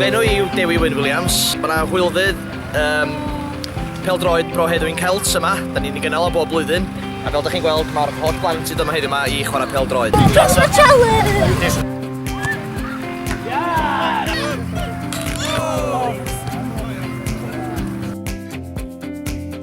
Fy enw i yw Dewi Wyn Williams. Mae yna hwylfydd um, peldroed Bro Heddwyn Celts yma. Da ni'n ei gynnal o bob blwyddyn. A fel ydych chi'n gweld, mae'r holl blant sydd yma heddiw yma i chwarae peldroed. Yes, my challenge!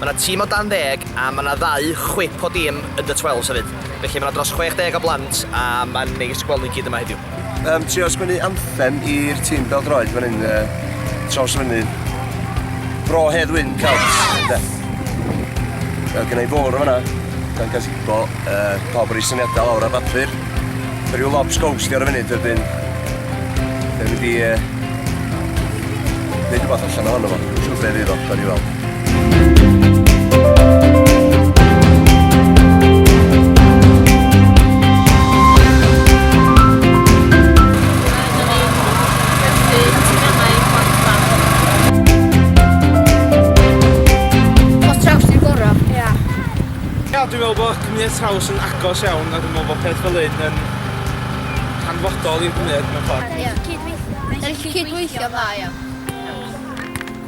Mae 'na tîm o dan ddeg a mae 'na ddau chwip o dîm under twelves hefyd. Felly mae 'na dros 60 o blant a mae'n neis gweld nhw i gyd yma heddiw. Yym trio sgwennu anthem i'r tîm bêl-droed fan hyn yy traws fynydd Bro Hedd Wyn Celts ynde? Yy gynna i fwrdd yn fan'na dan gazebo yy pawb yn roi syniadau lawr ar bapur. Mae rhyw lobs ghost ar y funud wedyn dwi'n mynd i yy neud rhywbeth allan ohono fo. Siŵr be' fydd o, gawn ni weld. dwi'n meddwl bod cymryd traws yn agos iawn a dwi'n meddwl bod peth fel hyn yn hanfodol i'r gwneud mewn ffordd. Ie. Cydweithio. Cydweithio dda, ia.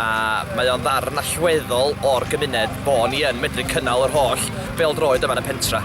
a mae o'n ddarn allweddol o'r gymuned bo' ni yn medru cynnal yr holl bêl-droed yma yn y pentra'.